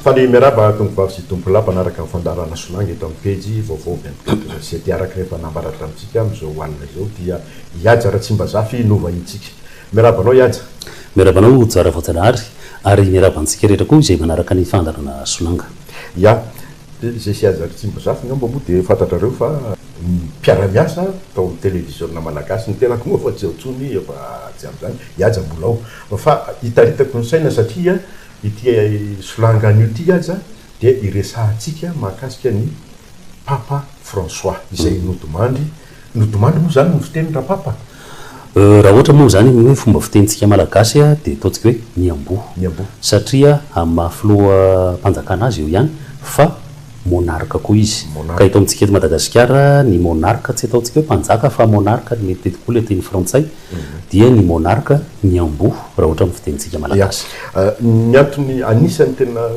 Faly miarahaba tongovavy sy tompolahy mpanaraka ny fandaharana Solange eto amin'ny pejy vaovao avy amin'ny Gato Gazety. Araka ny efa nambaran-dry amintsika amin'izao alina izao dia i Haja Ratsimbazafy no vahinintsika. Miarahaba anao i Haja. Miarahaba anao Jara Voajanahary ary miarahaba antsika rehetra koa izay manaraka ny fandaharana Solanga. Ya. Dia izay sy azy ry Tsimbozafy ngamba moa dia fantatrareo fa ny mpiara-miasa tao amin'ny televiziona malagasy, ny tenako moa efa tsy ao intsony efa tsy ampy izany, i Haja mbola ao, fa hitaritako ny saina satria ity solanga anio ity aza dia iresahantsika mahakasika an'i Papa François izay nodimandry Nodimandry moa izany ny fiteny Rapapa? Raha ohatra moa izany amin'ny hoe fomba fitenintsika malagasy dia ataontsika hoe Miamboho. Miamboho. Satria amin'ny maha filoham-panjakana azy eo ihany fa monarque koa izy. Monarque. Ka eto amintsika eto Madagasikara ny monarque tsy ataontsika hoe mpanjaka fa monarque ary mety tety koa ilay teny frantsay dia ny monarque Miamboho raha ohatra amin'ny fitenintsika malagasy. Ny antony anisany tena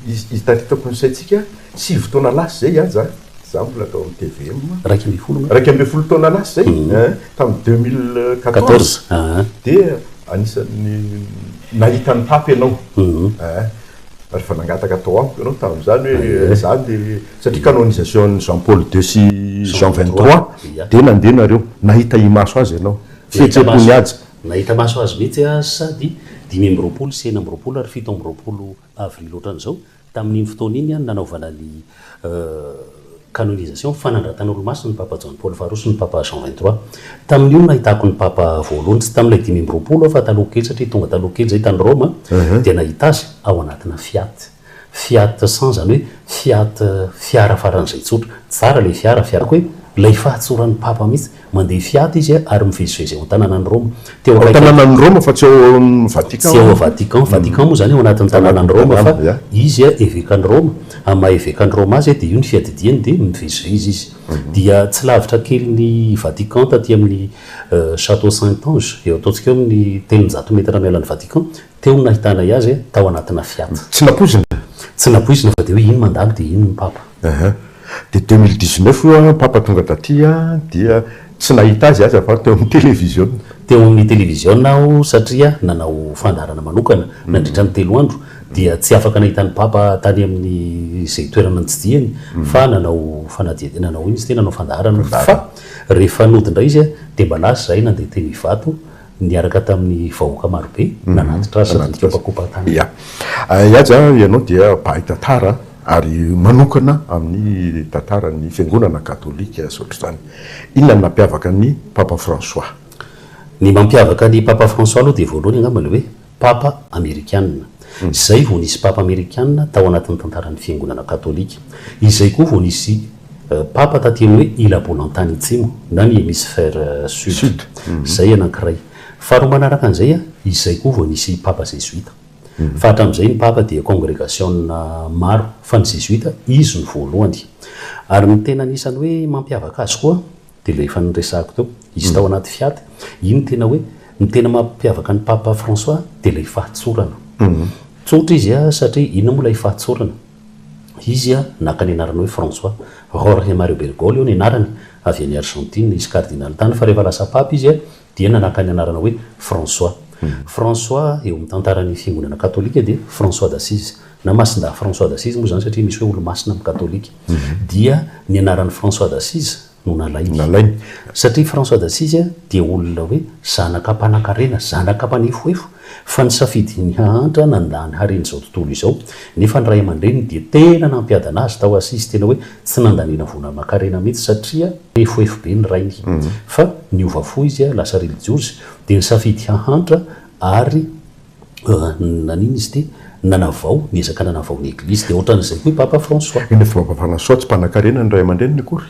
izy izy taritako ny saintsika sivy taona lasa izay aza. Izaho mbola tao amin'ny tvm iraika ambin'ny folo nga? Iraika ambin'ny folo taona lasa izay, tamin'ny deux mille quatorze, dia anisan'ny nahita an'i Pape ianao, rehefa nangataka tao amiko ianao tamin'izany hoe izaho dia, satria canonisation an'i Jean Paul deux sy Jean vingt trois, dia nandeha nareo, nahita imaso azy ianao, fihetseham-pony Haja. Nahita maso azy mihitsy aho sady dimy amby roapolo sy enina amby roapolo ary fito amby roapolo avy ny loatra an'izao, tamin'iny fotoana iny nanaovana ny canonisation, fanandratana olomasin'ny Papa Jaona Paoly faharoa sy ny Papa Jean vingt trois. Tamin'io no nahitako ny Papa voalohany, tsy tamin'ilay dimy amby roapolo aho fa taloha kely satria tonga taloha kely izay tany Roma dia nahita azy ao anatina Fiat. Fiat cent izany hoe Fiat fiara faran'izay tsotra, tsara ilay fiara, fiarako hoe ilay fahatsoran'ny Papa mihitsy. Mandeha fiady izy ary mivezivezy ao an-tanànan'i Roma. Teo akaiky an'i. Ao an-tanànan'i Roma fa tsy ao amin'ny Vatican. Tsy ao amin'ny Vatican. Vatican moa izany ao anatin'ny tanànan'i Roma fa izy evekan'i Roma, amin'ny maha evekan'i Roma azy dia io ny fiadidiany dia mivezivezy izy. Dia tsy lavitra kely ny Vatican taty amin'ny Château Saint-Ange, eo ataontsika eo amin'ny telonjato metatra miala ny Vatican, Teo no nahitanay azy, tao anatina Fiat. Tsy nampoizina? Tsy nampoizina fa dia hoe iny mandalo dia iny ny Papa. Aha. Dia deux mille dix-neuf io an, Papa tonga taty an, dia tsy nahita azy aza fa teo amin'ny televiziona. Teo amin'ny televiziona aho satria nanao fandaharana manokana nandritra ny telo andro, dia tsy afaka nahita an'i Papa tany amin'ny izay toerana nitsidihany fa nanao fanadihadi-, nanao inona izy ity, nanao fandaharana fa rehefa nody indray izy dia mba lasa izahay nandeha teny Ivato niaraka tamin'ny vahoaka marobe nanatitra azy sady nikopakopan-tanana. Ia. I Haja a, ianao dia mpahay tantara ary manokana amin'ny tantaran'ny Fiangonana Katolika sy ohatr'izany. Inona no nampiavaka an'i Papa François? Ny mampiavaka an'i Papa François aloha dia voalohany angamba ilay hoe Papa Amerikana. Izay vao nisy Papa Amerikana tao anatin'ny tantaran'ny Fiangonana Katolika. Izay koa vao nisy Papa taty amin'ny hoe Ila-Bolantany Atsimo na ny Hemisfera Sud. Izay anankiray. Faharoa manaraka an'izay, izay koa vao nisy Papa Zezoita. Fa hatramin'izay ny Papa dia kongregasiona maro. Fa ny Zezoita, izy no voalohany. Ary ny tena anisan'ny hoe mampiavaka azy koa, Dia ilay efa noresahako teo, izy tao anaty Fiat, iny no tena hoe, ny tena mampiavaka an'i Papa François dia ilay fahatsorana. Tsotra izy an, satria inona moa ilay fahatsorana? Izy an, naka ny anarana hoe François. Jorge Mario Bergoglio ny anarany, avy any Argentine, izy kardinaly tany, fa rehefa lasa Papa izy an, dia nanaka ny anarana hoe François. François eo amin'ny tantaran'ny fiangonana katolika dia François d'Assise, na Masindahy François d'Assise moa izany satria misy hoe olo-masina amin'ny katolika. Dia ny anaran'i François d'Assise no nalainy. Satria François d'Assise dia olona hoe zanaka mpanankarena, zanaka mpanefoefo, Fa ny safidin'ny hahantra nandà ny haren'izao tontolo izao. Nefa ny ray aman-dreniny dia tena nampiadana azy tao Assise, tena hoe tsy nandaniana vola aman-karena mihitsy satria pefofefo be ny rainy. Fa niova fo izy, lasa relijiozy, dia nisafidy hahantra ary nanina izy ity, nanavao, niezaka nanavao ny Eglizy. Dia ohatran'izay koa i Papa François. Ilay Papa François tsy mpanankarena ny ray aman-dreniny akory.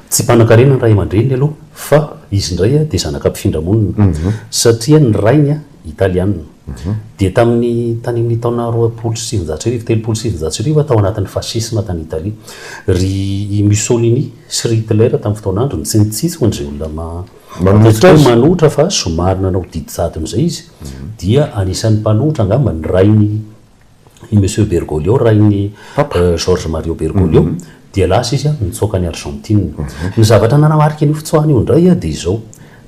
Tsy mpanankarena ny ray aman-dreniny aloha fa izy indray dia zanaka mpifindra monina satria ny rainy Italiana. Dia tamin'ny tany amin'ny taona roapolo sy sivinjato sy arivo, telopolo sy sivinjato sy arivo, tao anatin'ny fasisma tany Italia, ry i Mussolini sy ry Hitler tamin'ny fotoan'androny, tsy nitsitsy ho an'izay olona ataontsika hoe manohitra fa somary nanao didy jadona izay izy, dia anisan'ny mpanohitra angamba ny rainy. i Monsieur Bergoglio, rain'i Jorge Mario Bergoglio, dia lasa izy nitsoaka an'i Argentine. Ny zavatra nanamarika an'io fitsoahana io indray dia izao,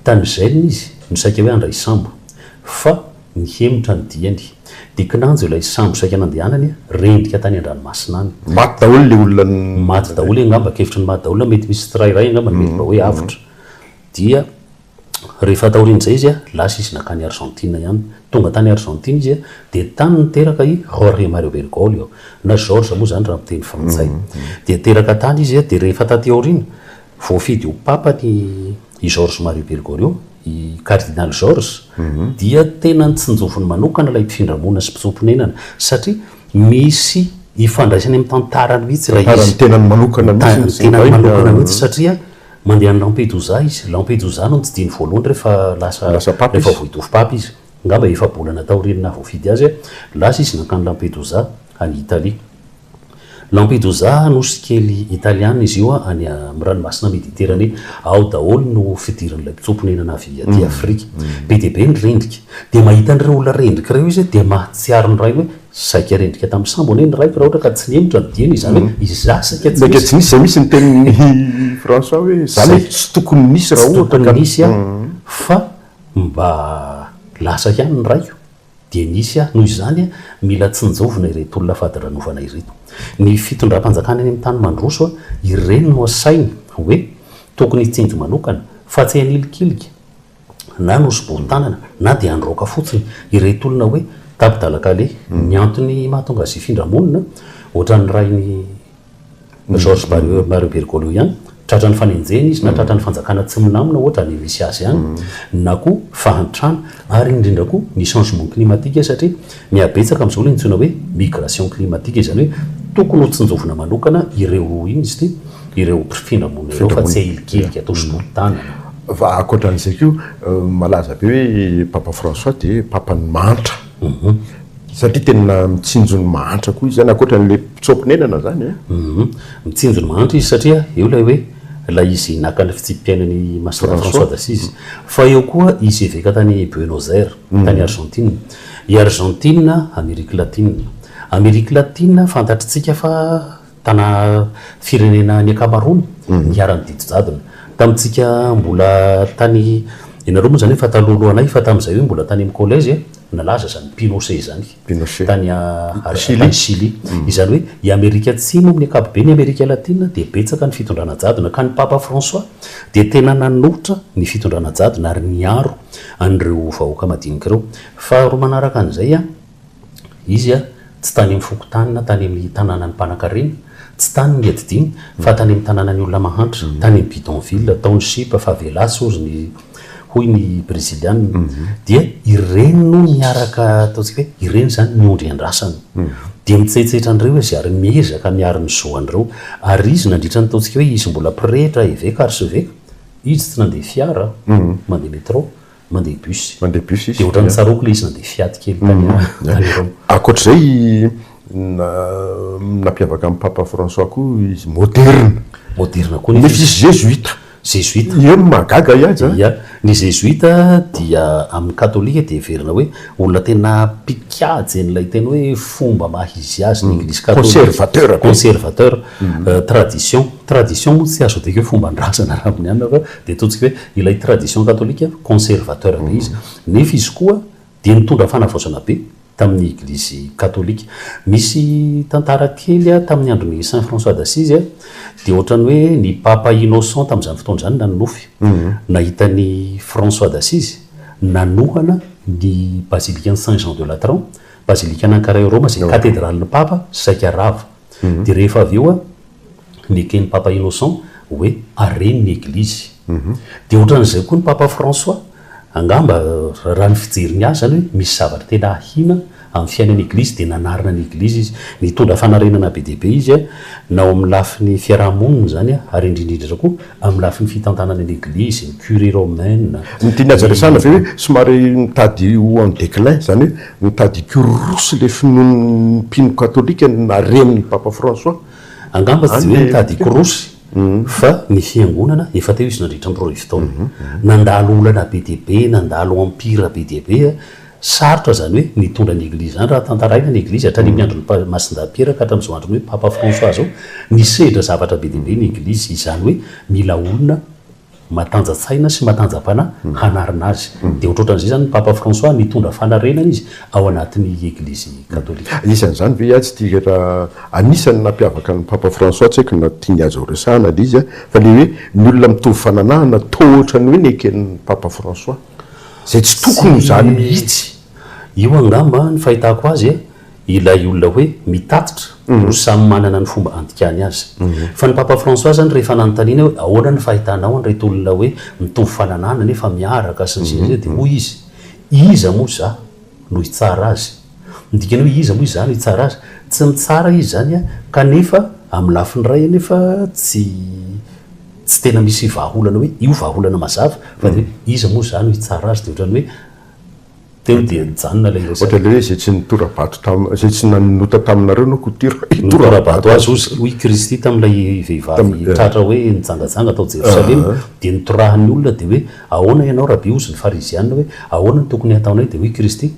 tany Gênes izy no saika hoe handray sambo, fa nihemotra ny diany. Dia kinanjo ilay sambo saika nandehanany, rendrika tany an-dranomasina any. Maty daholo ilay olona. Maty daholo angamba, ankefitry ny maty daholo, na mety misy tsirairay angamba no mety mba hoe avotra. Dia. Rehefa taorian'izay izy, lasa izy nankany Arzantina ihany. Tonga tany Arzantina izy dia tany niteraka i Jorge Mario Bergoglio, na Georges moa izany raha amin'ny teny frantsay. Dia teraka tany izy dia rehefa taty aoriana, voafidy ho papa ny i Jorge Mario Bergoglio, i Kardinaly Georges, dia tena notsinjoviny manokana ilay mpifindra monina sy mpitsoa-ponenana, satria misy ifandraisany amin'ny tantarany mihitsy ilay izy. Tantarany tenany manokana mihitsy ny tenany manokana mihitsy satria. Mandeha any Lampedusa izy. Lampedusa no notsidihiny voalohany rehefa lasa, rehefa vao hitory Papa izy. Angamba efa-bolana taorian'ny naha-voafidy azy, lasa izy nankany Lampedusa, any Italia. Lampedusa, nosy kely italiana izy io, any amin'ny Ranomasina Mediterane. Ao daholo no fidiran'ilay mpitsoa-ponenana avy aty Afrika. Be dia be ny rendrika. Dia mahita an'ireo olona rendrika ireo izy, dia mahatsiaro ny rainy hoe, Saika rendrika tamin'ny sambo anie ny raiko raha ohatra ka tsy nihemotra ny dieny, izany hoe izaho saika tsy nisy. Saika tsy nisy, izay misy ny tenin'i François hoe izany hoe tsy tokony nisy raha ohatra ka. Tsy tokony nisy aho fa mba lasa ihany ny raiko dia nisy aho. Noho izany, mila tsinjovina ireto olona fadiranovana ireto. Ny fitondram-panjakana eny amin'ny tany mandroso, ireny no asainy hoe tokony hitsinjo manokana fa tsy hanilikilika na nosoborin-tanana na dia androaka fotsiny ireto olona hoe Tabdalakale. Ny antony mahatonga azy hifindra monina, ohatran'ny rain'i George Barrio, Mario Bergoglio ihany, tratran'ny fanenjehana izy na tratran'ny fanjakana tsy milamina ohatra any misy azy any na koa fahantrana ary indrindra koa ny changement climatique satria Mihabetsaka amin'izao ilay antsoina hoe migration climatique, izany hoe tokony ho tsinjovina manokana ireo, inona izy ity, ireo mpifindra monina ireo fa tsy ahilikilika atao sotontanana. Fa ankoatran'izay koa, malaza be hoe Papa François dia Papan'ny mahantra, satria tena mitsinjo ny mahantra koa izy izany, ankoatran'ilay mpitsoa-ponenana izany an. Mitsinjo ny mahantra izy satria eo ilay hoe, ilay izy naka ny fitsipi-piainana i Masina François d'Assise. Fa eo koa izy eveka tany Buenos Aires, tany Argentine. I Arzantina, Amerika Latina. Amerika Latina, fantatritsika fa tana firenena ny ankamaroany niharan'ny didy jadona. Tamintsika mbola tany, ianareo moa izany efa taloha-loha anay, fa tamin'izay hoe mbola tany amin'ny collège eh, nalaza izany Pinochet izany, Pinochet. tany tany Chili. Izany hoe i Amerika Atsimo amin'ny ankapoben'i Amerika Latina dia betsaka ny fitondrana jadona, ka ny Papa François dia tena nanolotra ny fitondrana jadona ary niaro an'ireo vahoaka madinika ireo. Faharoa manaraka an'izay, izy tsy tany amin'ny fokontany na tany amin'ny tanànan'ny mpanankarena, tsy tany ngedidiny, fa tany amin'ny tanànan'ny olona mahantra, tany amin'ny bidonville, township, favelas, hozy ny, hoy ny Breziliana. Dia ireny no miaraka, ataontsika hoe, ireny izany ny ondry iandrasany. Dia mitsaitsaitra an'ireo izy ary miezaka miaro ny zo an'ireo. Ary izy, nandritra ny, ataontsika hoe, izy mbola pretra, eveka, arseveka, Izy tsy nandeha fiara, mandeha métro, mandeha bus. Mandeha bus izy. Dia ohatran'ny tsaroako ilay izy nandeha fiady kely tany Roma. Ankoatr'izay, nampiavaka an'i Papa François koa izy moderina. Moderina koa nefa izy. Nefa izy zezoita. Zezoita. Io no mahagaga ahy aza. Ia. Ny zezoita dia amin'ny katolika dia heverina hoe olona tena mpikajy an'ilay tena hoe fomba maha izy azy ny Eglizy katolika. Conservateur. Conservateur. Tradition. Tradition moa tsy azo adika hoe fomban-drazana raha amin'ny anona fa dia ataontsika hoe ilay tradition katolika conservateur be izy. Nefa izy koa dia nitondra fanavaozana be tamin'ny eglizy katolika. Misy tantara kely tamin'ny andron'i Saint François d'Assise dia ohatran'ny hoe ny Papa Innocent tamin'izany fotoana izany nanonofy nahita an'i François d'Assise nanohana ny bazilikan'i Saint Jean de Latran, bazilikan'i Ankara eo Roma izay katedralin'ny Papa saika rava. dia rehefa avy eo neken'i Papa Innocent hoe hareny ny Eglizy. Dia ohatran'izay koa ny Papa François, angamba raha ny fijeriny azy izany hoe misy zavatra tena ahiana amin'ny fiainan'ny Eglizy dia nanarina ny Eglizy izy. Nitondra fanarenana be dia be izy na ao amin'ny lafiny fiaraha-monina izany ary indrindra indrindra koa Amin'ny lafiny fitantanana ny Eglizy, ny Curie romaine, Ny tiany haja resahana ve hoe somary mitady ho en déclin, izany hoe mitady hikororosy ilay finoan'ny mpino katolika ny naharenin'i Papa François? Angamba tsy dia hoe mitady hikorosy, fa ny Fiangonana, efa teo izy nandritra ny roa arivo taona. Nandalo olana be dia be, nandalo empire be dia be. Sarotra izany hoe nitondra ny Eglizy izany raha tantaraina ny Eglizy hatrany amin'ny andron'i Masindahy Piera ka hatramin'izao andron'ny hoe Papa François izao. Nisedra zavatra be dia be ny Eglizy, izany hoe mila olona matanja-tsaina sy matanja-panahy hanarina azy. Dia ohatrohatran'izay izany ny Papa François nitondra fanarenana izy ao anatin'ny Eglizy Katolika. Anisan'izany ve atsy ity rehetra, anisan'ny nampiavaka an'i Papa François, tsy haiko na tiany azy horesahana ilay izy, fa ilay hoe ny olona mitovy fananahana, toa ohatran'ny hoe neken'i Papa François. Izay tsy tokony ho izany mihitsy. Io angamba ny fahitako azy ilay olona hoe mitatitra no samy manana ny fomba handikany azy. Fa ny Papa François izany rehefa nanontaniana hoe ahoana ny fahitanao an'ireto olona hoe mitovy fananahana nefa miaraka sy ny sisa sy ny sisa dia hoy izy, iza moa za no hitsara azy? Ny dikany hoe iza moa iza no hitsara azy? Tsy mitsara izy izany kanefa amin'ny lafiny iray anefa tsy Tsy tena misy vahaolana hoe io vahaolana mazava fa dia hoe iza moa izany no hitsara azy dia ohatran'ny hoe teo dia nijanona ilay resaka. Ohatra ilay hoe izay tsy nitora-bato taminareo, izay tsy nanota taminareo no hotora, hitora-bato azy hozy. Hoy i Kristy tamin'ilay vehivavy tratra hoe nijangajanga tao Jerosalema dia notorahan'ny olona dia hoe ahoana ianao Raby? Hozy ny Farizianina hoe ahoana no tokony hataonay? Dia hoy i Kristy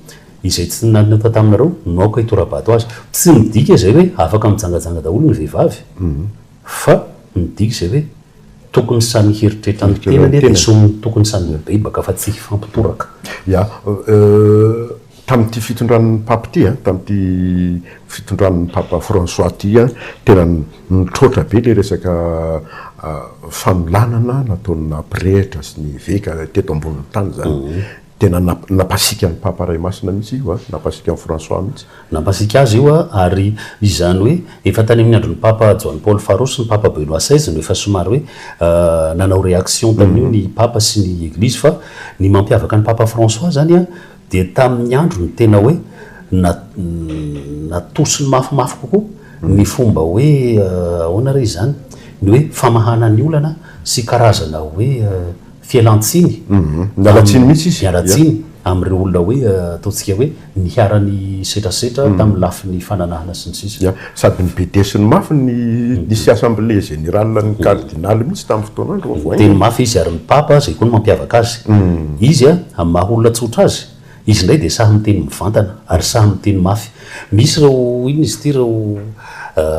izay tsy nanota taminareo no aoka hitora-bato azy. Tsy midika izay hoe afaka mijangajanga daholo ny vehivavy. Fa midika izay hoe tokony samy hieritreritra ny tenany dia tsy ho tokony samy hibebaka fa tsy hifampitoraka. Ya, tamin'ity fitondran'ny Papa ity, tamin'ity fitondran'ny Papa François ity, tena nitroatra be ilay resaka fanolanana nataon'ny nampirehitra sy ny eveka teto ambonin'ny tany izany. Tena nampasiaka an'i Papa Ray Masina mihitsy io a! Nampasiaka an'i François mihitsy. Nampasiaka azy io ary izany hoe efa tany amin'ny andron'i Papa Joany Paoly faharoa sy ny Papa Benoît seize no efa somary hoe nanao réaction tamin'io ny Papa sy ny Eglizy fa ny mampiavaka an'i Papa François zany a dia tamin'ny androny tena hoe natosiny mafimafy kokoa ny fomba hoe ahoana re izany? ny hoe famahana ny olana sy karazana hoe Fialan-tsiny Miala tsiny mihitsy izy. Miala tsiny amin'ireo olona hoe ataontsika hoe niharan'ny setrasetra tamin'ny lafiny fananahana sy ny sisa. Ia. Sady nibedesiny mafy ny nisy assemblée générale ny kardinaly mihitsy tamin'ny fotoana andro vao voahaingana. Teny mafy izy ary ny papa izay koa no mampiavaka azy. Izy amin'ny maha olona tsotra azy, izy indray dia sahy miteny mivantana ary sahy miteny mafy. Misy ireo inona izy ity ireo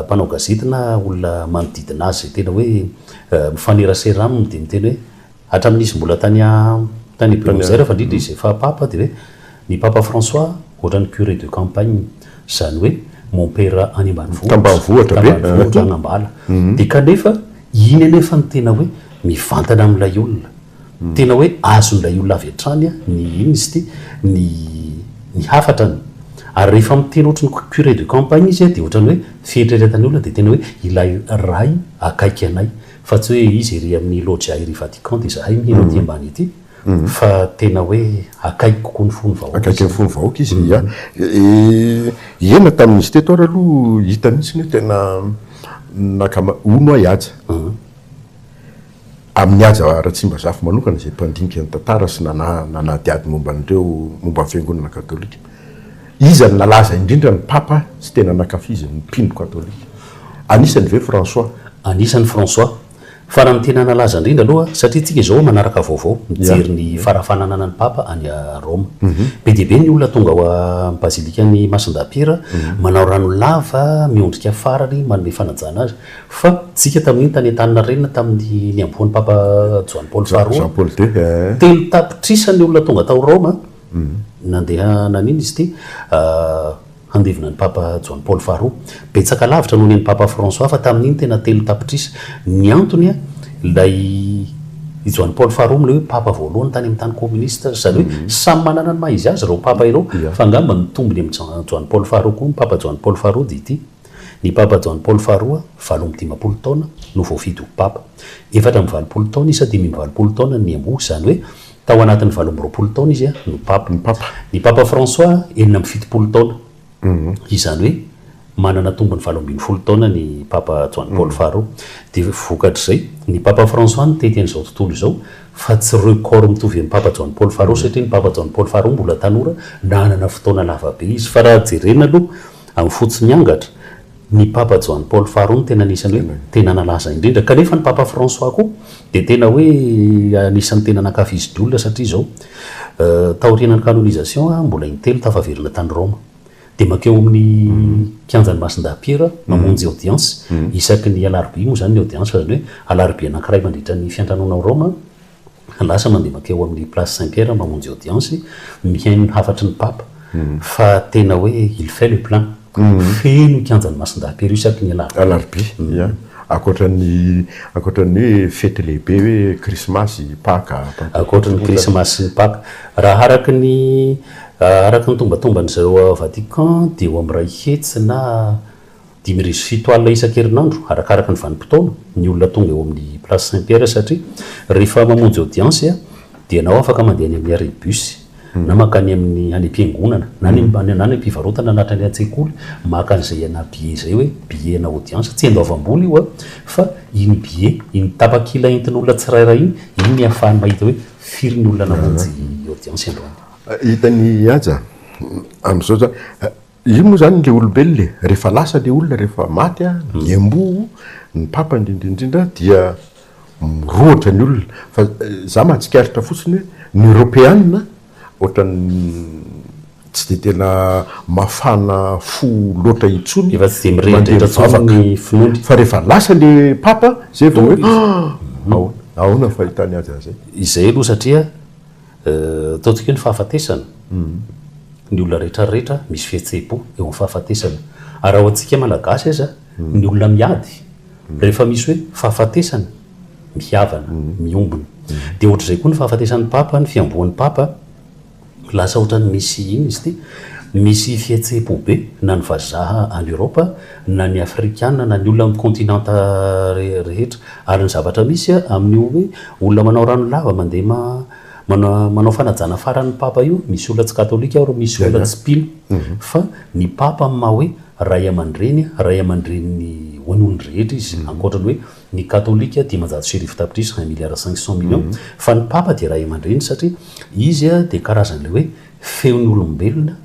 mpanao gazety na olona manodidina azy izay tena hoe. Mifanerasera aminy dia miteny hoe, hatramin'ny izy mbola tany tany Buenos Aires fa indrindra izy efa Papa dia hoe, ny Papa François ohatran'ny curé de campagne, izany hoe mompera any ambanivohitra, Tambanivohitra be, tambanivohitra, any am-bala. Dia kanefa iny anefa no tena hoe mivantana amin'ilay olona. Tena hoe azon'ilay olona avy hatrany ny, inona izy ity, ny ny hafatrany. Ary rehefa miteny ohatry ny curé de campagne izy dia ohatran'ny hoe fieritreretan'ny olona dia tena hoe ilay Ray akaiky anay. Fa tsy hoe izy ery amin'ny Loggia ery Vatican dia izahay mino aty ambany aty. Fa tena hoe akaiky kokoa ny fon'ny vahoaka izy. Akaiky ny fon'ny vahoaka izy, ia. Ena tamin'izy teto ary aloha hita mihitsy ny hoe tena nakama, hono ahy aja. Amin'i Haja Ratsimbazafy manokana, izay mpandinika ny tantara sy nanadihady momba an'ireo momba ny Fiangonana Katolika, iza no nalaza indrindra ny Papa tsy tena nankafizin'ny mpino Katolika? Anisany ve François? Anisany François. Farany tena nalaza indrindra aloha, satria tsika izao manaraka vaovao, mijery ny fara fanananan'ny Papa any Roma. Be dia be ny olona tonga ao am-bazilikan'i Masindahy Pira, manao rano lava miondrika farany manome fanajana azy. Fa tsika tamin'iny tany Antaninarenina tamin'ny nihabohan'ny Papa Joany Paoly faharoa, telo tapitrisa ny olona tonga tao Roma nandeha nanino izy ity handevina an'i Papa Joany Paoly faharoa. Betsaka lavitra noho ny an'i Papa François fa tamin'iny tena telo tapitrisa. Ny antony ilay i Joany Paoly faharoa amin'ilay hoe Papa voalohany tany amin'ny tany kominista. Izany hoe samy manana ny maha izy azy ireo Papa ireo fa angamba ny tombony amin'i Joany Paoly faharoa koa ny Papa Joany Paoly faharoa dia ity. Ny Papa Jaona Paoly faharoa, valo amby dimampolo taona, no voafidy ho Papa. Efatra amby valopolo taona izy sa dimy amby valopolo taona ny niamboho, izany hoe tao anatin'ny valo amby roapolo taona izy no Papa. Ny Papa François, enina amby fitopolo taona. Izany hoe manana tombony valo ambin'ny folo taona ny Papa Jaona Paoly faharoa. Dia vokatr'izay, ny Papa François nitety an'izao tontolo izao, fa tsy record mitovy amin'ny Papa Jaona Paoly faharoa, satria ny Papa Jaona Paoly faharoa mbola tanora, nanana fotoana lava be izy. Fa raha jerena aloha, Amin'ny fototry ny angatra, ny Papa Joany Paoly faharoa no tena anisan'ny hoe tena nalaza indrindra, kanefa ny Papa Fransoà koa dia tena hoe anisan'ny tena nankafizin'ny olona satria izao, taorianan'ny canonisation, mbola intelo tafaverina tany Roma. Dia mankeo amin'ny kianjan'i Masindahy Piera mamonjy audience, isaky ny alarobia moa izany ny audience fa izany hoe alarobia anankiray mandritra ny fiantranoana ao Roma, lasa mandeha mankeo amin'ny place Saint Pierre mamonjy audience, mihaino ny hafatry ny Papa, fa tena hoe il fait le plein, feno kianjan'i Masindahy Pero isaky ny alarobia. Alarobia, ia. Ankoatra ny, ankoatra ny hoe fety lehibe hoe krismasy, paka, pantekoty. Ankoatra ny krismasy sy ny paka. Raha araka ny, araka ny tombatomban'izay ao Vatican dia eo amin'ny iray hetsy na Dimy arivo sy fito alina isan-kerinandro, arakaraka ny vanim-potoana, ny olona tonga eo amin'ny Place Saint Pierre satria rehefa mamonjy audience dia na afaka mandeha any amin'ny arrêt bus na mankany amin'ny any am-piangonana na any na any am-pivarotana na hatrany an-tsekoly maka an'izay ana billet izay hoe billet ana audience, tsy an-doavam-bola io an! fa iny billet, iny tapakila entin'olona tsirairay iny, iny no ahafahany mahita hoe firy ny olona namonjy audience androany. Hitan'i Haja amin'izao zany. Io moa izany ilay olombelona e, rehefa lasa ilay olona, rehefa maty ny amboa, ny papa indrindra indrindra dia mirohotra ny olona. Fa za mahatsikaritra fotsiny hoe ny Eoropeana ohatran'ny tsy dia tena mafana fo loatra intsony. Efa tsy dia mirehidrehitra intsony ny finoany. Fa rehefa lasa ilay papa, izay vao hoe, ah! Ahoana ny fahitany azy an'izay? Izay aloha satria. Ataontsika hoe ny fahafatesana, ny olona rehetra rehetra misy fihetseham-po eo amin'ny fahafatesana. Ary raha ho antsika Malagasy aza, ny olona miady, rehefa misy hoe fahafatesana, mihavana, miombona. Dia ohatr'izay koa ny fahafatesan'ny Papa, ny fihamboan'ny Papa, lasa ohatran'ny misy, inona izy ity, misy fihetseham-po be, na ny vazaha any Eoropa, na ny Afrikana, na ny olona amin'ny kaontinanta rehetra. Ary ny zavatra misy amin io hoe olona manao rano lava mandeha ma mana manao fanajana farany ny papa io, misy olona tsy katolika ary misy olona tsy mpino fa ny papa amin maha hoe ray amandreny, ray amandreny ny ho an olon drehetra izy ankoatra ny hoe ny katolika dimanjato sy arivo tapitrisa, un milliard cinq cent millions, fa ny papa dia ray amandreny satria izy dia karazan ilay hoe feo ny olombelona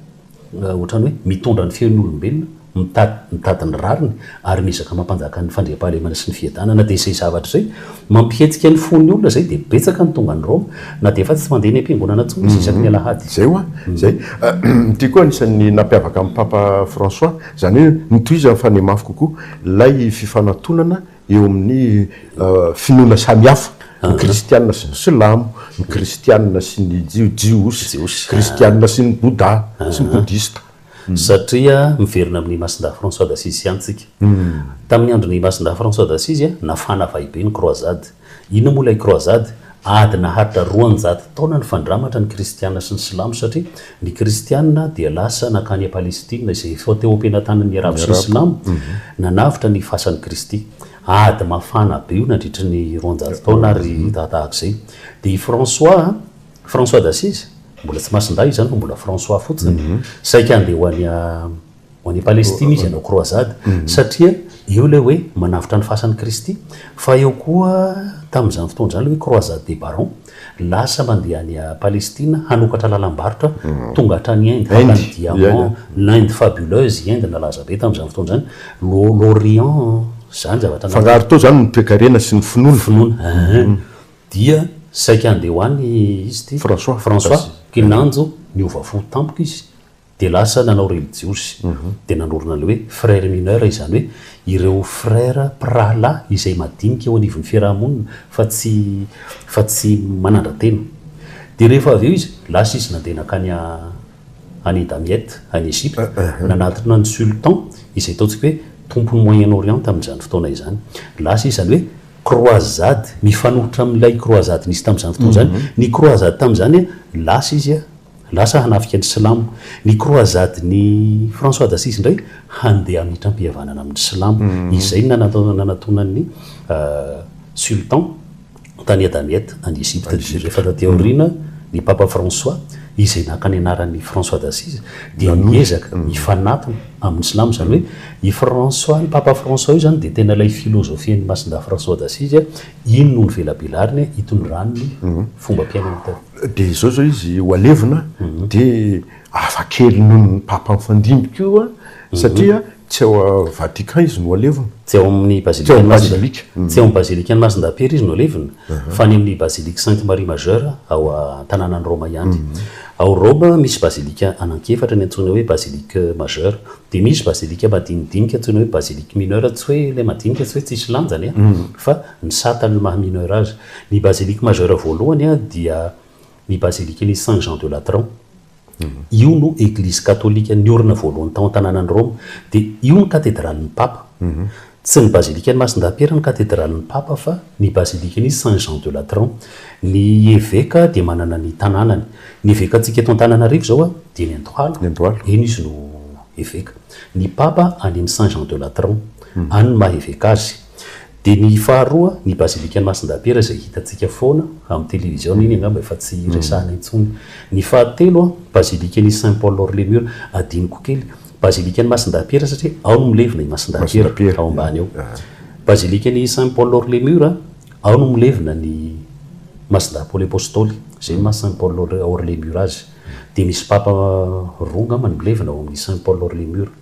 Ohatrany hoe mitondra ny feon'olombelona, mitady mitady ny rariny ary miezaka mampanjaka ny fandriampahalemana sy ny fiadanana. Dia izay zavatra izay mampihetsika ny fon'ny olona izay dia betsaka ny tonga any Roma na dia efa tsy mandeha eny am-piangonana intsony izy isaky ny alahady. Izay hoa izay. Ity koa anisan'ny nampiavaka an'i Papa François, izany hoe notohizany fa nihamafy kokoa ilay fifanatonana eo amin'ny finoana samihafa, ny kristiana sy ny silamo, ny kristiana sy ny jiosy, ny kristiana sy ny boda sy ny bodista. Satria miverina amin'i Masindahy François d'Assise ihany isika. Tamin'ny andron'i Masindahy François d'Assise, nafana vahibe ny Croisade. Inona moa ilay Croisade? Ady naharitra roanjato taona nifandramatra ny kristiana sy ny silamo satria Ny Kristianina dia lasa nankany Palestina izay efa teo am-penatanan'ny Arabo sy ny Silamo, nanavotra ny fasan'i Kristy. Ady mafana be io nandritry ny roanjato taona ary tahatahaka izay dia i François, François d'Assise? mbola tsy Masindahy izany fa mbola François fotsiny, saika handeha ho any Ho any Palestina izy hanao croisade, satria eo ilay hoe manavotra ny fasan'i Kristy. Fa eo koa tamin'izany fotoana izany ilay hoe croisade des barons, lasa mandeha any Palestina hanokatra lalam-barotra tonga hatrany Inde, haka ny diamants, l'Inde fabuleuse, i Inde nalaza be tamin'izany fotoana izany, l'O, l'Orient, izany zavatra nahatonga. Fangaro teo izany ny toekarena sy ny finoana. Finoana, ehe. Dia saika handeha ho any izy ity François, François, kinanjo niova fo tampoka izy. dia lasa nanao relijiozy, dia nanorina ny hoe Frères mineurs, izany hoe ireo frères, mpirahalahy, izay madinika eo anivon'ny fiaraha-monina fa tsy, fa tsy manandra-tena. Dia rehefa avy eo izy, lasa izy nandeha nankany any Damiette, any Egypta, nanatona ny Sultan, izay ataontsika hoe tompon'ny Moyen Orient tamin'izany fotoana izany. Lasa izy, izany hoe croisade, mifanohitra amin'ilay croisade nisy tamin'izany fotoana izany. Ny croisade tamin'izany, lasa izy, Lasa hanafika ny silamo. Ny croisade n'i François d'Assise indray handeha hamitram-pihavanana amin'ny silamo. Izay no nanatonan'ny sultan tany à Damiette any Egypte ny jugé. Fa taty aoriana ny Papa François izay naka ny anaran'i François d'Assise dia niezaka hifanatona amin'ny silamo. Izany hoe i François, Papa François io izany dia tena ilay filozofian'i Masindahy François d'Assise. Ino no novelabelariny hitondrany ny fombam-piainany tao? Dia izao izao izy, ho alevina, dia hafa kely noho ny Papa mifandimby koa, satria tsy ao Vatican izy no alevina. Tsy ao amin'ny Bazilikan'i Masindahy. Tsy ao amin'ny Bazilikan'i Masindahy-Pera izy no alevina, fa any amin'ny Basilique Sainte Marie Majeure ao an-tanànan'i Roma ihany. Ao Roma, misy bazilika anankiefatra, ny antsoina hoe Basilique Majeure, Dia misy bazilika madinidinika antsoina hoe basilique mineure, tsy hoe ilay madinika tsy hoe tsisy lanjany an, fa misahata an'io maha mineure azy. Ny basilique majeure voalohany dia ny bazilikan'i Saint Jean de Latran. Io no eglizy katolika niorina voalohany tao an-tanànan'i Roma. Dia io no katedralin'ny papa. Tsy ny bazilikan'i Masindahy-Pera no katedralin'ny Papa fa ny bazilikan'i Saint Jean de Latran. Ny eveka dia manana ny tanànany. Ny evekantsika eto Antananarivo izao dia eny Andohalo, eny izy no eveka. Ny Papa any amin'ny Saint Jean de Latran, any no maha eveka azy. Dia ny faharoa, ny bazilikan'i Masindahy-Pera izay hitantsika foana amin'ny televiziona iny angamba efa tsy resahina intsony. Ny fahatelo, bazilikan'i Saint Paul hors les murs, adinoko kely, Bazilikan'i Masindahy-Piera satria ao no milevina i Masindahy-Piera, ao ambany ao. Bazilikan'i Saint Paul hors les murs, ao no milevina ny Masindahy Paoly Apostoly, izay ny maha Saint Paul hors les murs azy. Dia misy papa roa angamba no milevina ao amin'ny Saint Paul hors les murs.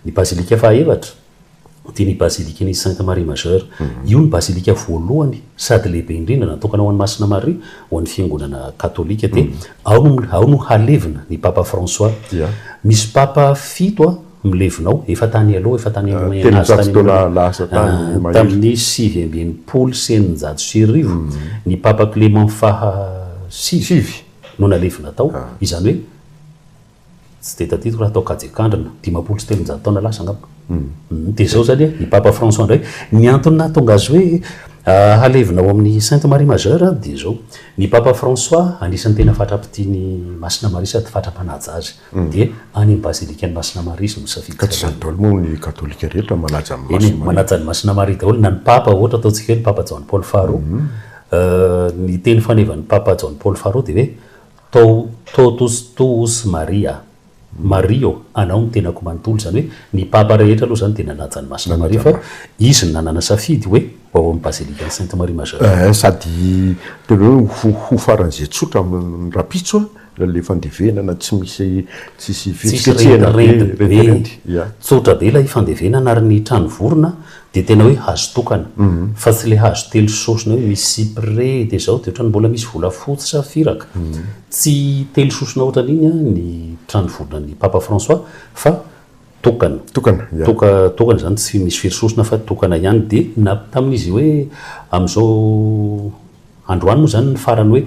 Ny bazilika fahaefatra. dia ny Bazilikan'i Sainte Marie Majeure. Io no bazilika voalohany sady lehibe indrindra natokana ho an'i Masina Maria ho an'ny fiangonana katolika dia ao no halevina ny Papa François. Misy Papa fito milevina ao, efa tany aloha, efa tany amin'ny Moyen age tany amin'ny, tamin'ny sivy amby enimpolo sy eninjato sy arivo, ny Papa Clément faha sivy no nalevina tao, izany hoe, Tsy dia tadidiko raha tao Kajekandrina, dimampolo sy telonjato taona lasa angamba. Dia izao izany an, i Papa François indray, ny antony nahatonga azy hoe halevina ao amin'ny Sainte Marie Majeure dia izao, ny Papa François anisan'ny tena fatra-pitia ny Masina Maria sady fatra-mpanaja azy, dia any amin'ny Bazilikan'i Masina Maria izy no misafidy. Ka tsy izany daholo moa ny Katolika rehetra manaja an'i Masina Maria? Eny e, manaja an'i Masina Maria daholo na ny Papa, ohatra ataontsika hoe ny Papa Jaona Paoly faharoa, ny teny fanevan'ny Papa Jaona Paoly faharoa dia hoe, Too totus tuus Maria, Maria ô, anao ny tenako manontolo, izany hoe ny papa rehetra aloha izany dia nanaja an'i Masina Maria fa izy no nanana safidy hoe ho ao amin'ny bazilikan'i Sainte Marie Majeure. Ee, sady tena hoe ho ho faran'izay tsotra amin'ny rahampitso an, ilay ilay fandevenana tsy misy tsisy Tsisy fihetsiketsehana be, rendirendy be, rendirendy, ya. tsotra be ilay fandevenana ary ny trano vorona Dia tena hoe hazo tokana. Fa tsy ilay hazo telo sosona hoe misy cyprès dia izao dia ohatran'ny mbola misy volafotsy sa firaka. Tsy telo sosona ohatran'iny ny trano volan'i Papa François fa tokana. Tokana, ya. Toka, tokana izany tsy misy firy sosona fa tokana ihany. Dia na tamin'izy hoe amin'izao androany moa izany ny farany hoe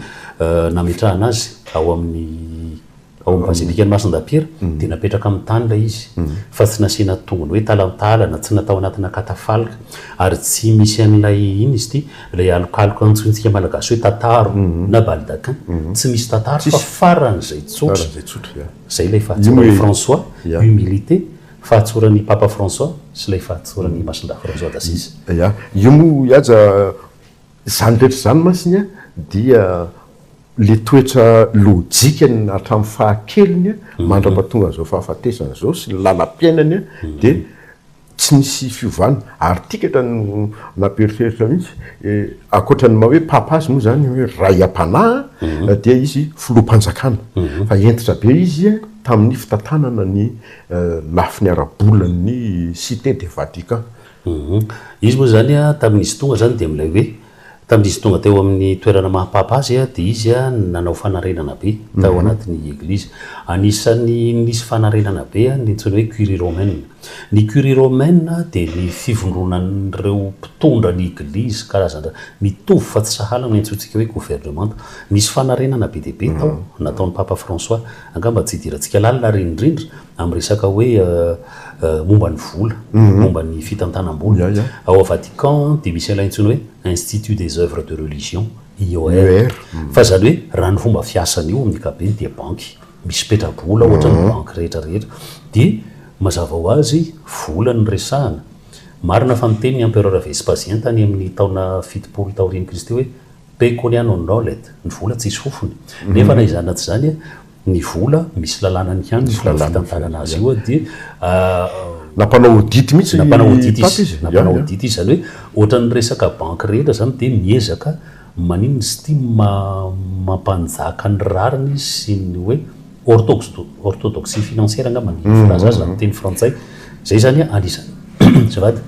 nametrahana azy ao amin'ny Ao amin'ny bazilikan'i Masindapiera dia napetraka amin'ny tany ilay izy, fa tsy nasiana tongony hoe talantalana, tsy natao anatina katafalka, ary tsy misy an'ilay, inona izy ity, ilay alokaloka antsointsika malagasy hoe tataro na baldaquin, tsy misy tataro fa faran'izay tsotra. Izay ilay fahatsoran'i François, humilité, fahatsoran'ny Papa François sy ilay fahatsoran'i Masindahy François d'Assise. Ia, io moa i Haja, Izany rehetra izany masiny dia ilay toetra lojikany hatramin'ny fahakeliny mandrapa tonga an'izao fahafatesany izao sy ny lalam-piainany dia tsy nisy fiovana ary tikatra no nampieritreritra mihitsy ankoatra ny maha hoe papa azy moa izany hoe ray am-panahy dia izy filoham-panjakana fa hentitra be izy tamin'ny fitantanana ny lafiny ara-bolan'ny cite de Vatican. Humm. Izy moa izany tamin'izy tonga izany dia milay hoe, tamin'izy tonga teo amin'ny toerana maha Papa azy dia izy nanao fanarenana be tao anatin'ny Eglizy. Anisan'ny nisy fanarenana be ny antsoina hoe Curie Romaine. Ny Curie Romaine dia ny fivondronan'ireo mpitondra ny Eglizy karazana mitovy fa tsy sahala no iantsoantsika hoe governemanta. Nisy fanarenana be dia be tao nataon'i Papa François. Angamba tsy idirantsika lalina ary indrindra. Amin'ny resaka hoe momba ny vola, momba ny fitantanam-bola, ao Vatican dia misy an'ilay antsoina hoe Institut des Œuvres de Religion, IOR. Fa izany hoe raha ny fomba fiasany io amin'ny ankapobeny dia banky misy petra-bola ohatra ny banky rehetra rehetra. Dia mazava ho azy vola no resahana. Marina fa niteny ny Empereur Vespasien tany amin'ny taona fitopolo taorian'i Kristy hoe pecunia non olet, ny vola tsisy fofony. Nefa na izany na tsy izany, ny vola, misy lalànany ihany ny fomba fitantanana azy io dia. Nampanao audit mihitsy i Paty izy. Nampanao audit izy, izany hoe ohatran'ny resaka banky rehetra izany dia miezaka maninona izy ity mampanjaka ny rariny izy sy ny hoe orthodoxie financière angamba ny filaza azy raha amin'ny teny frantsay. Izay izany anisan'ny azafady,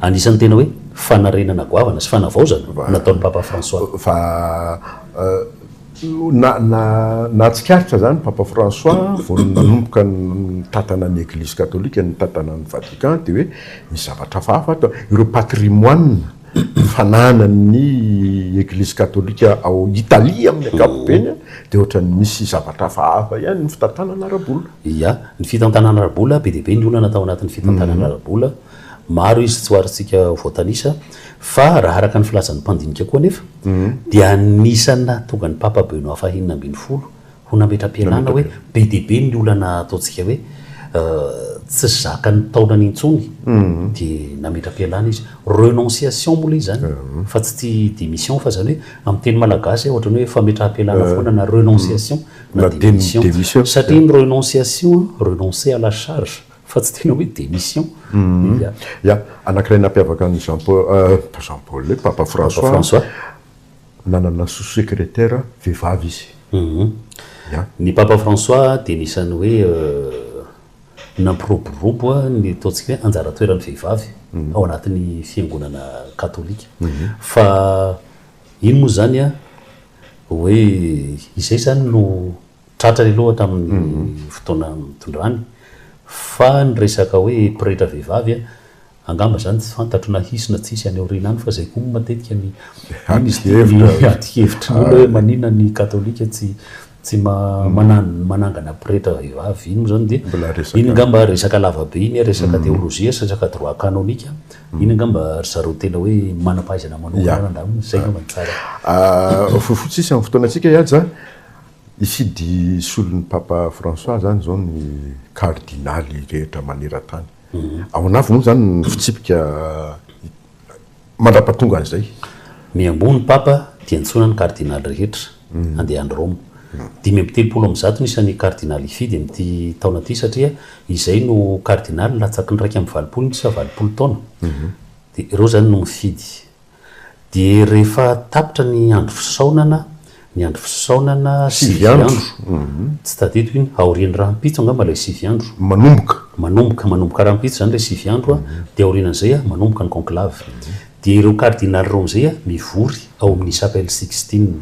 anisan'ny tena hoe fanarenana goavana sy fanavaozana nataon'i Papa François. Fa Nahatsikaritra izany Papa François vao nanomboka nitantana ny Eglizy Katolika nitantana an'i Vatican dia hoe misy zavatra hafahafa ato. Ireo patrimoine fananan'ny Eglizy Katolika ao Italie amin'ny ankapobeny dia ohatran'ny misy zavatra hafahafa ihany ny fitantanana ara-bola. Ia, ny fitantanana ara-bola, be dia be ny olana tao anatin'ny fitantanana ara-bola Maro izy tsoarintsika voatanisa, fa raha araka ny filazan'ny mpandinika koa anefa, dia anisan'ny nahatonga ny Papa Benoît fahenina ambin'ny folo ho nametra-pialana hoe be dia be ny olana ataontsika hoe tsy zakan'ny taolana intsony, dia nametra-pialana izy. Renonciation moa ilay izy izany, fa tsy tia démission, fa izany hoe amin'ny teny malagasy ohatran'ny hoe fametraha-pialana foana na renonciation na démission. Satria ny renonciation, renoncer à la charge. Fa tsy tena hoe démission. Ia. Ia. Anankiray nampiavaka an'i Jean Paul, pas Jean Paul, le Papa François, nanana sous-secrétaire vehivavy izy. Ia. Ny Papa François dia anisan'ny hoe nampiroborobo ny ataontsika hoe anjara toeran'ny vehivavy ao anatin'ny fiangonana katolika. Fa iny moa izany hoe izay izany no. Tratra ny loha tamin'ny fotoana nitondrany. Fa ny resaka hoe pretra vehivavy, angamba izany tsy fantatro na hisy na tsy hisy any aoriana any fa izay koa moa matetika ny adi-kevitry ny olona hoe maninona ny katolika tsy tsy manangana pretra vehivavy. Iny moa izany dia, iny angamba resaka lava be iny, resaka teolojia sy resaka droit canonique. Iny angamba ry zareo tena hoe manam-pahaizana manokana angaha angamba no tsara. Fohy fotsisy amin'ny fotoanantsika i Haja a! Hifidy solon'i Papa François izany izao ny Kardinaly rehetra maneran-tany. Ao an'avy moa izany ny fitsipika mandrapatonga an'izay. Miamboho ny Papa dia antsoina ny Kardinaly rehetra handeha any Roma. Dimy amby telopolo amin'ny zato ny isan'ny Kardinaly hifidy amin'ity taona ity satria izay no Kardinaly latsaky ny iraika amby valopolo miisa valopolo taona. Dia ireo izany no mifidy. Dia rehefa tapitra ny andro fisaonana, ny andro fisaonana sivy andro, tsy tadidiko iny, aorian'ny rahampitso angamba ilay sivy andro. Manomboka. Manomboka, manomboka rahampitso izany ilay sivy andro, dia aorianan'izay manomboka ny conclave. Dia ireo kardinaly ireo amin'izay mivory ao amin'ny Chapelle Sixtine.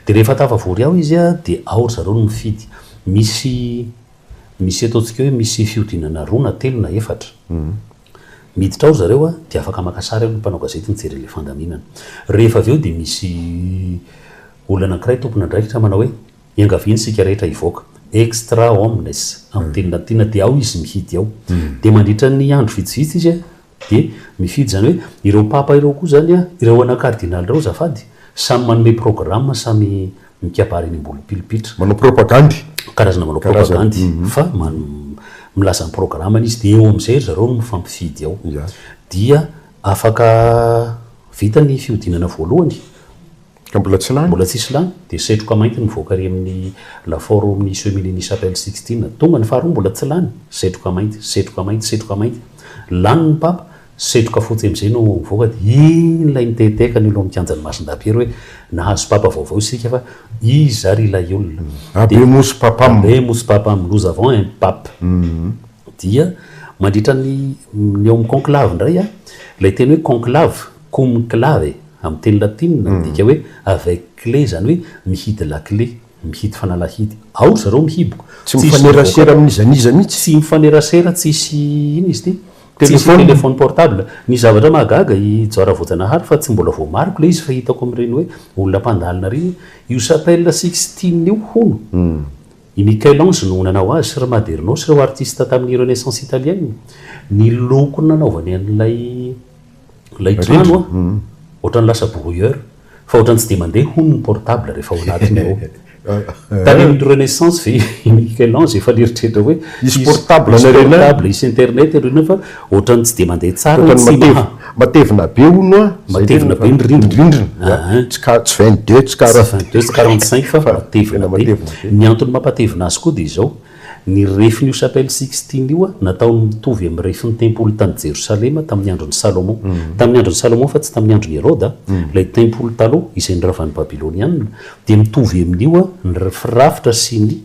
Dia rehefa tafavory ao izy dia ao ry zareo no mifidy. Misy, misy ataontsika hoe misy fihodinana roa na telo na efatra. Miditra ao ry zareo a, dia afaka maka sary ao ny mpanao gazety mijery an'ilay fandaminana. Rehefa avy eo dia misy olona anankiray tompon'andraikitra manao hoe, Iangaviany isika rehetra hivoaka. Extra omnes, amin'ny teny latina, dia ao izy mihidy ao. Dia mandritra ny andro vitsivitsy izy dia mifidy izany hoe, ireo papa ireo koa izany, ireo ana kardinaly ireo azafady, samy manome programa, samy. mikabary eny Ambolopilipitra. Manao propagandy. Karazana manao propagandy fa milaza ny programany izy dia eo amin'izay ry zareo no mifampifidy ao. Dia afaka vita ny fihodinana voalohany, ka mbola tsy lany, mbola tsisy lany, dia setroka mainty no mivoaka ary amin'ny lafaoro ao amin'ny Seminenis Chapelle Sixtine. Tonga ny faharoa mbola tsy lany, setroka mainty, setroka mainty, setroka mainty. Lany ny papa, Setroka fotsy amizay no mivoaka de iny ilay miteteka any alohan'ny kianjan'i Masindapiera hoe nahazo papa vaovao isika fa iza ary ilay olona. Abbé Mousse Papam. Abbé Mousse Papam, nous avons un pape. Dia mandritra ny ny eo amin'ny conclave indray an, ilay teny hoe conclave, cum clave, amin'ny teny latina, midika hoe avec clé, izany hoe mihidy lakile, mihidy fanalahidy. Ao ry zareo mihiboka. Tsy mifanerasera amin'iza n'iza mihitsy. Tsy mifanerasera, tsisy inona izy ity? Telo sy téléphone portable. Ny zavatra mahagaga, i Jora Voajanahary, fa tsy mbola voamariko ilay izy fa hitako amin'ireny hoe olona mpandalina ireny hoe, io chapelle Sixtine io hono, i Michel-Ange no nanao azy, ry Maderno sy ireo artiste tamin'ny Renaissance italienne, ny loko nanaovany an'ilay. Ilay trano an, ohatrany lasa brouilleur fa ohatrany tsy dia mandeha hono ny portable rehefa ao anatiny ao. Tany amin'ny Renaissance ve i Michel-Ange efa nieritreritra hoe hisy portable hisy internet ianareo iny fa ohatrany tsy dia mandeha tsara ny sim an. Matevina be hono an. Matevina be ny rindrina. Tsy vingt deux tsy quarante cinq fa matevina be. Ny antony mampatevina azy koa dia izao, Ny refin'io Chapelle Sixtine io nataony mitovy amin'ny refin'ny tempoly tany Jerosalema tamin'ny andron'i Salomon. Tamin'ny andron'i Salomon fa tsy tamin'ny andron'i Heroda, ilay tempoly taloha izay noravan'ny Babylonianina, dia mitovy amin'io ny firafitra sy ny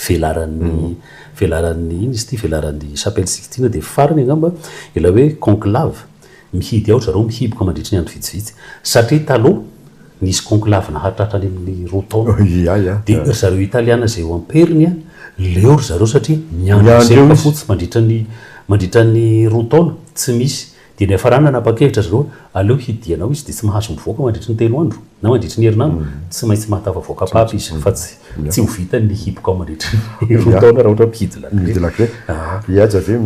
velaran'ny velaran'ny, inona izy ity, velaran'ny Chapelle Sixtine dia farany angamba ilay hoe conclave. Mihidy ao ry zareo mihiboka mandritry ny andro vitsivitsy. Satria taloha nisy conclave nahatratra any amin'ny roa taona. Dia ry zareo Italiana izay eo am-periny, leo ry zareo satria miandry ny zebra fotsy mandritra ny mandritra ny roa taona, tsy misy. Dia niafarana nanapa-kevitra ry zareo hoe aleo hidiana ao izy dia tsy mahazo mivoaka mandritry ny telo andro. na mandritry ny herinandro, tsy maintsy mahatafavoaka papa izy fa tsy tsy ho vitany ny hipoka mandritry ny roa taona raha ohatra mpihidy lakile. Mpihidy lakile. Hihaja ve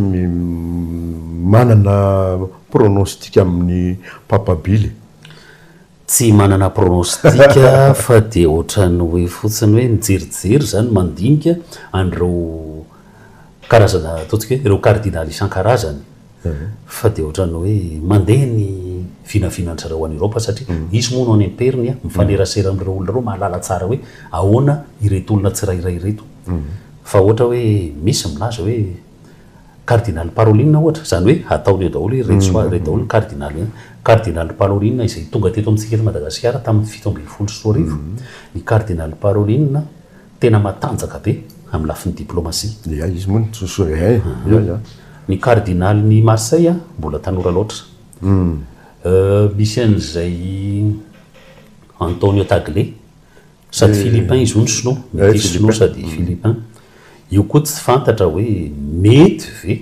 manana pronostic amin'ny papa bill e? Tsy manana pronostic fa dia ohatran'ny hoe fotsiny hoe mijerijery izany mandinika an'ireo karazana ataontsika hoe ireo cardinal isan-karazany fa dia ohatran'ny hoe mandeha ny vinavinan-tsareo any Europe satria hisy moa no any am-periny a, mifanerasera amin'ireo olona ireo mahalala tsara hoe ahoana ireto olona tsirairay ireto. Fa ohatra hoe misy milaza hoe Cardinal Parolin ohatra, izany hoe ataony eo daholo hoe ireto soa, ireto daholo ny Cardinal. Cardinal Parolin izay tonga teto amintsika eto Madagasikara tamin'ny fito ambin'ny folo sy roa arivo, ny Cardinal Parolin, Tena matanjaka be amin'ny lafiny diplomasia. Ia izy moa no tsosora eh ia ia. Ny cardinal ny Marseille mbola tanora loatra. Euh misy an'izay Antonio Tagle sady philippin izy io no sinoa, metisy sinoa sady philippin. Io koa tsy fantatra hoe mety ve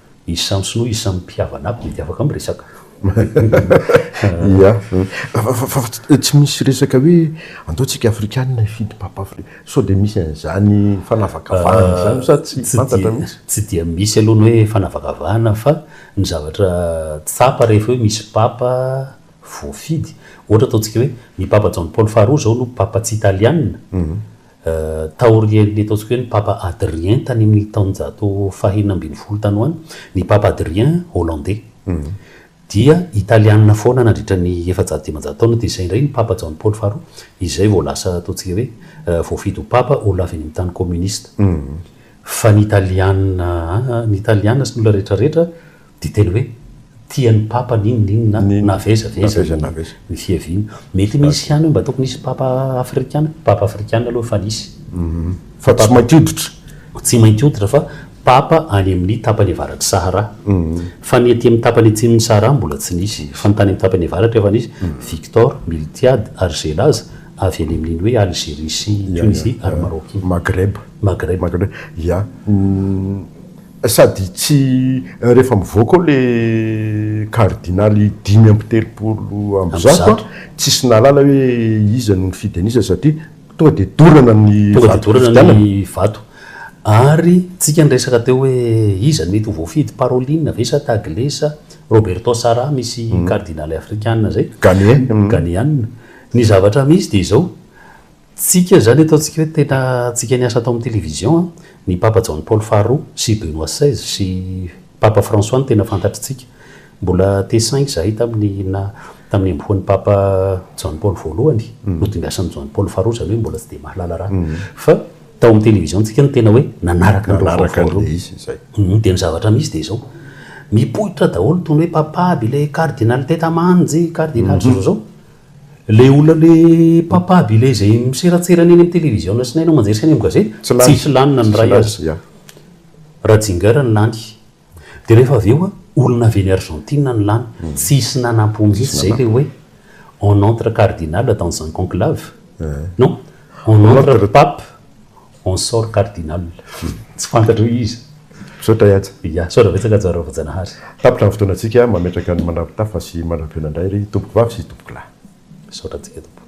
Izy samy sinoa, izy samy mpihavana aby mety afaka miresaka. Ia. Fa tsy misy resaka hoe andao tsika afrikanina hifidy papa afrikanina. Sao dia misy an'izany fanavakavahana izany sa tsy fantatra mihitsy? Tsy dia misy aloha ny hoe fanavakavahana fa ny zavatra tsapa rehefa hoe misy papa voafidy, ohatra ataontsika hoe ny papa Jaona Paoly faharoa izao no papa tsy italianina, Taorian'ny ataontsika hoe ny Papa Adrien tany amin'ny taonjato fahenina ambin'ny folo tany ho any, ny Papa Adrien Hollandey dia Italiana foana nandritra ny efajato dimanjato taona, dia izay indray ny Papa Jaona Paoly faharoa, izay vao lasa ataontsika hoe voafidy ho Papa, olona avy any amin'ny tany kominista. Fa ny Italiana, aa, ny Italiana sy ny olona rehetrarehetra Dite ny hoe, tian'ny papa n'inon'inona navezavezany ny fiaviana. Mety misy ihany hoe mba tokony hisy papa afrikana. Papa afrikana aloha efa nisy. Fa tsy mainty hoditra. Tsy mainty hoditra fa papa any amin'ny tapany avaratr'i Sahara. Fa ny aty amin'ny tapany atsimon'i Sahara mbola tsy nisy. Fa ny tany amin'ny tapany avaratra efa nisy. Victor, Miltiade, ary izay laza, avy any amin'iny hoe Algérie sy Tunisie ary Maroc iny. Maghreb. Maghreb. Maghreb, ya. Sady tsy rehefa mivoaka ao le kardinaly dimy amby telopolo amby zato tsisy nahalala hoe iza no nifidy an'iza satria tonga dia dorana ny vato fifidianana. Ary tsika niresaka teo hoe iza mety ho voafidy, Parolin ve sa Tagle sa Roberto Sarah misy kardinaly afrikana zay, Ghanean. Ny zavatra misy dia izao, Tsika izany ataontsika hoe tena tsika niasa tao amin'ny télévision an! Ny Papa Jaona Paoly faharoa sy Benoît seize sy Papa François no tena fantatritsika. Mbola T-cinq izahay tamin'ny na tamin'ny ambohoan'ny Papa Jaona Paoly voalohany, nodimbiasan'i Jaona Paoly faharoa, izany hoe mbola tsy dia mahalala raha. Fa tao amin'ny télévision tsika no tena hoe nanaraka ny vaovao voalohany. Dia ny zavatra misy dia izao, mipoitra daholo itony hoe Papa aby ilay Cardinal Teta Manji, Cardinal izao izao izao. Ilay olona ilay mpampabo ilay izay miseratserana eny amin'ny televiziona sy ny haino aman-jery sy any amin'ny gazety, tsy lany, tsisy lany na ny iray aza. Yeah. Ratzinger no lany. Dia rehefa avy eo, olona avy eny Argentine no lany. Tsy hisy nanampo mihitsy izay ilay hoe on entre cardinal dans un conclave. Non, on entre pape, En sort cardinal. Tsy fantatro hoe iza. Misaotra Yatsa. Ya, misaotra betsaka Haja Raovajanahary. Tapitra ny fotoanantsika, mametraka ny mandrapitafa sy mandrapihaona indray ry Tompokovavy sy Tompokolahy. Misaotra antsika Tompo.